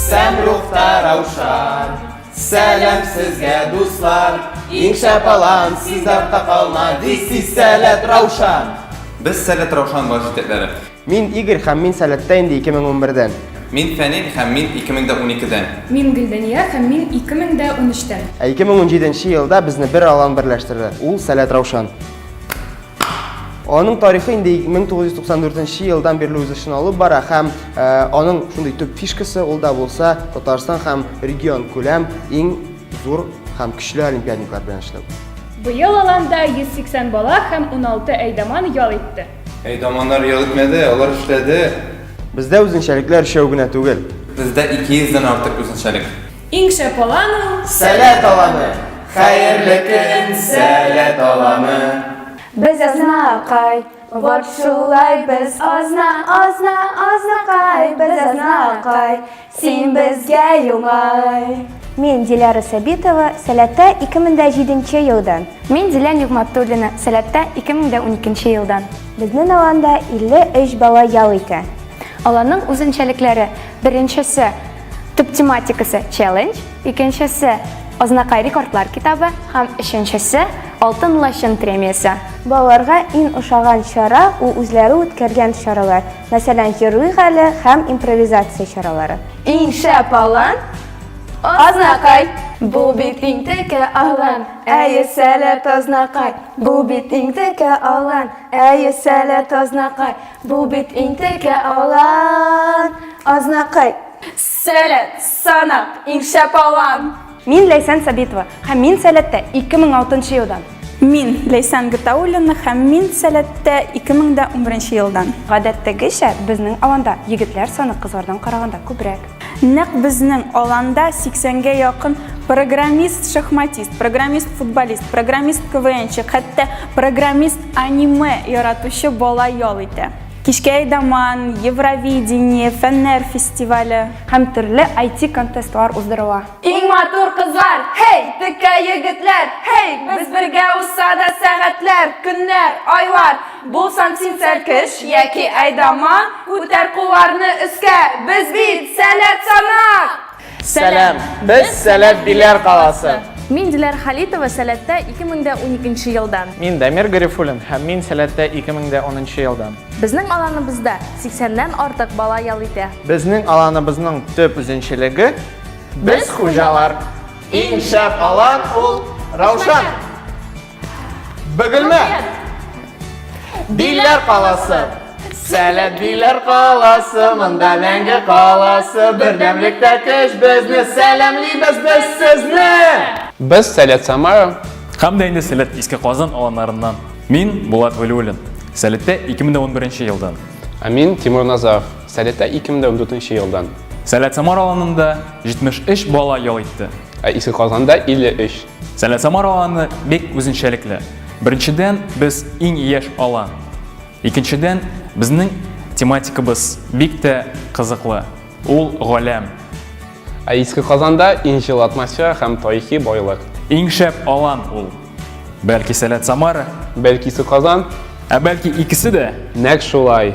Сәмрухта Раушан, сәлам сезгә, дуслар, иң шәп алан, сез артта калма, this is Сәләт Раушан. Без Сәләт Раушан баш җитәкләре. Мин Игорь һәм мин Сәләттә инде 2011-дән. Мин Фәнил һәм мин 2012-дән. Мин Гөлдәния һәм мин 2013-тән. Ә 2017 елда безне бер алан берләштерде. Ул Сәләт Раушан. Аның тарихы инде 1994 елдан бирле үз эшен алып бара һәм э, аның шундый төп фишкасы ул да булса Татарстан һәм регион күләм иң зур һәм көчле олимпиадниклар белән эшләү. Быел аланда 180 бала һәм 16 әйдаман ял итте. Әйдаманнар ял итмәде, алар эшләде. Бездә үзенчәлекләр өчәү генә түгел. Бездә 200 дән артык үзенчәлек. Иң шәп алан ул. Сәләт аланы. Хәерле көн, сәләт аланы. Без азнакай. Вот шулай без азна, азна, азнакай. Без азнакай. Син безгә юңай. Мин Диляра Сәбитова, Сәләттә 2007 елдан. Мин Зилә Нигъмәтуллина, Сәләттә 2012 елдан. Безнең аланда 53 бала ял итә. Аланның үзенчәлекләре, беренчесе, Төп тематикасы челлендж, икенчесе Азнакай рекордлар китабы һәм өченчесе Алтын лачын премиясе. Балаларга иң ошаган чара ул үзләре үткәргән чаралар, мәсәлән, җырлыйк әле һәм импровизация чаралары. Иң шәп алан Азнакай! Бу бит иң текә алан, әйе сәләт Азнакай! Бу бит иң текә алан, әйе сәләт Азнакай! Бу бит интекә алан, азнакай. Сәләт, санап, иң шәп алан. Мин Ләйсән Сабитова, һәм мин Сәләттә 2006 елдан. Мин Ләйсән Гатауллина, һәм мин Сәләттә 2011 елдан. Гадәттәгечә, безнең аланда егетләр саны кызлардан караганда күбрәк. Нәкъ безнең аланда 80-гә якын программист-шахматист, программист-футболист, программист-КВНчы, хәтта программист-аниме яратучы бала ял итә. Кичкә Айдаман, Евровидение, фәннәр фестивале һәм төрле IT-контестлар уздырыла. Иң матур кызлар, һей, текә егетләр, һей, без бергә узса да сәгатьләр, көннәр, айлар. Булсаң син сәркеш яки әйдаман, Күтәр кулларны өскә, без бит сәләт санап! Сәлам! Без Сәләт Биләр каласы! Мин Диләр Халитова, Сәләттә 2012 елдан. Мин Дамир Гарифуллин һәм мин Сәләттә 2010 елдан. Безнең аланыбызда 80 ннән артык бала ял итә. Безнең аланыбызның төп үзенчәлеге, без хуҗалар! Иң шәп алан ул Раушан! Бөгелмә! Биләр каласы! Сәләт биләр каласы, монда мәңге каласы, бердәмлектә көч безне, сәламлибез без сезне! Без Сәләт Самара һәм дә инде Сәләт Иске Казан аланнарыннан. Мин Булат Вәлиуллин, Сәләттә 2011 елдан. Ә мин Тимур Назаров, Сәләттә 2014 елдан. Сәләт Самара аланында 73 бала ял итте. Ә Иске Казанда 53. Сәлә Самар аланы бик үзенчәлекле. Беренчедән, без иң яшь алан. Икенчедән, безнең тематикабыз бик тә кызыклы. Ул галәм. Ә Иске Казанда иң җылы атмосфера һәм тарихи байлык. Иң шәп алан ул. Бәлки Сәләт Самара. Бәлки Иске Казан. Ә бәлки икесе дә. Нәкъ шулай.